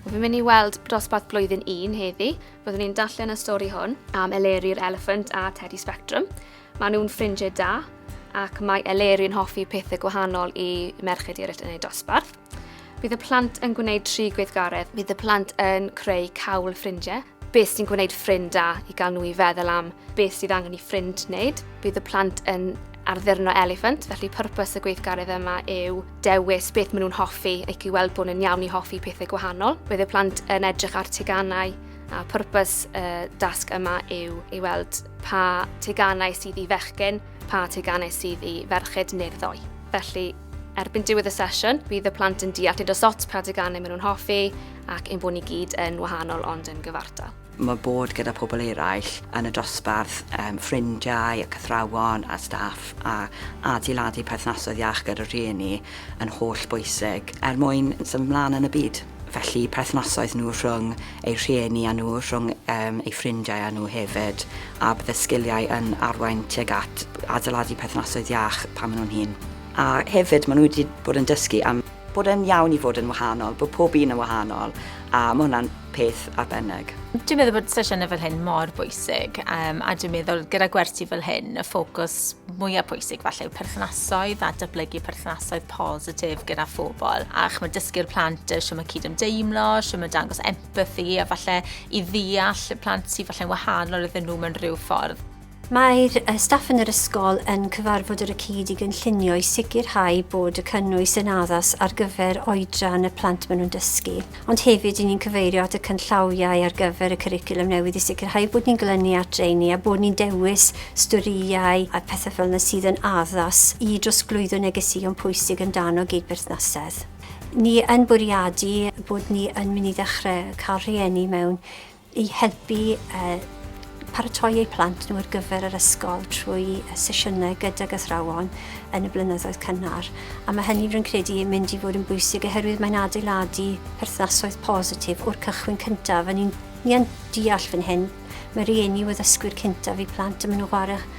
Fi'n mynd i weld dosbarth blwyddyn un heddi. Byddwn ni'n darllen y stori hwn am Eleri'r Elephant a Teddy Spectrum. Mae nhw'n ffrindiau da ac mae Eleri yn hoffi pethau gwahanol i merched eraill yn ei dosbarth. Bydd y plant yn gwneud tri gweithgaredd. Bydd y plant yn creu cawl ffrindiau Beth sy'n gwneud ffrind da i gael nhw i feddwl am beth sydd angen i ffrind wneud. Bydd y plant yn arddurno eliffant, felly pwrpas y gweithgaredd yma yw dewis beth maen nhw'n hoffi ac i weld bod nhw'n iawn i hoffi pethau gwahanol. Bydd y plant yn edrych ar teganau a pwrpas y dasg yma yw i weld pa teganau sydd i fechgyn, pa teganau sydd i ferched neu'r ddoe. Felly, Erbyn diwedd y sesiwn, bydd y plant yn deall nid os ots pa deganau maen nhw'n hoffi ac ein bod ni gyd yn wahanol ond yn gyfartal. Mae bod gyda pobl eraill yn y dosbarth, um, ffrindiau, y cythrawon a staff a adeiladu perthnasoedd iach gyda rhieni yn holl bwysig er mwyn symud mlaen yn y byd. Felly perthnasoedd nhw rhwng eu rhieni â nhw, rhwng um, eu ffrindiau â nhw hefyd, a bydd y sgiliau yn arwain tuag at adeiladu perthnasoedd iach pan maen nhw'n hun. A hefyd, maen nhw wedi bod yn dysgu am bod e'n iawn i fod yn wahanol, bod pob un yn wahanol, a mae hwnna'n peth arbennig. Dwi'n meddwl bod sesiynau fel hyn mor bwysig um, a dwi'n meddwl gyda gwersi fel hyn y ffocws mwyaf pwysig falle yw perthnasoedd a dyblygu perthnasoedd positif gyda phobl a chymryd dysgu'r plant shwt mae cydymdeimlo, shwt mae dangos empathy a falle i ddeall y plant sy'n falle'n wahanol iddyn nhw mewn rhyw ffordd. Mae'r staff yn yr ysgol yn cyfarfod ar y cyd i gynllunio i sicrhau bod y cynnwys yn addas ar gyfer oedran y plant maen nhw'n dysgu. ond hefyd ry'n ni'n cyfeirio at y cynllawiau ar gyfer y cwricwlwm newydd i sicrhau bod ni'n glynu at rheini a bod ni'n dewis storïau a pethau fel yna sydd yn addas i drosglwyddo negeseuon pwysig amdano gydberthnasedd. Ni yn bwriadu bod ni yn mynd i ddechrau cael rhieni mewn i helpu paratoi eu plant nhw ar gyfer yr ysgol trwy sesiynau gydag athrawon yn y blynyddoedd cynnar. A mae hynny rwy'n credu yn mynd i fod yn bwysig oherwydd mae'n adeiladu perthnasoedd positif o'r cychwyn cyntaf. A ni'n deall fan hyn, mae rhieni yw addysgwyr cyntaf i plant a maen nhw'n chwarae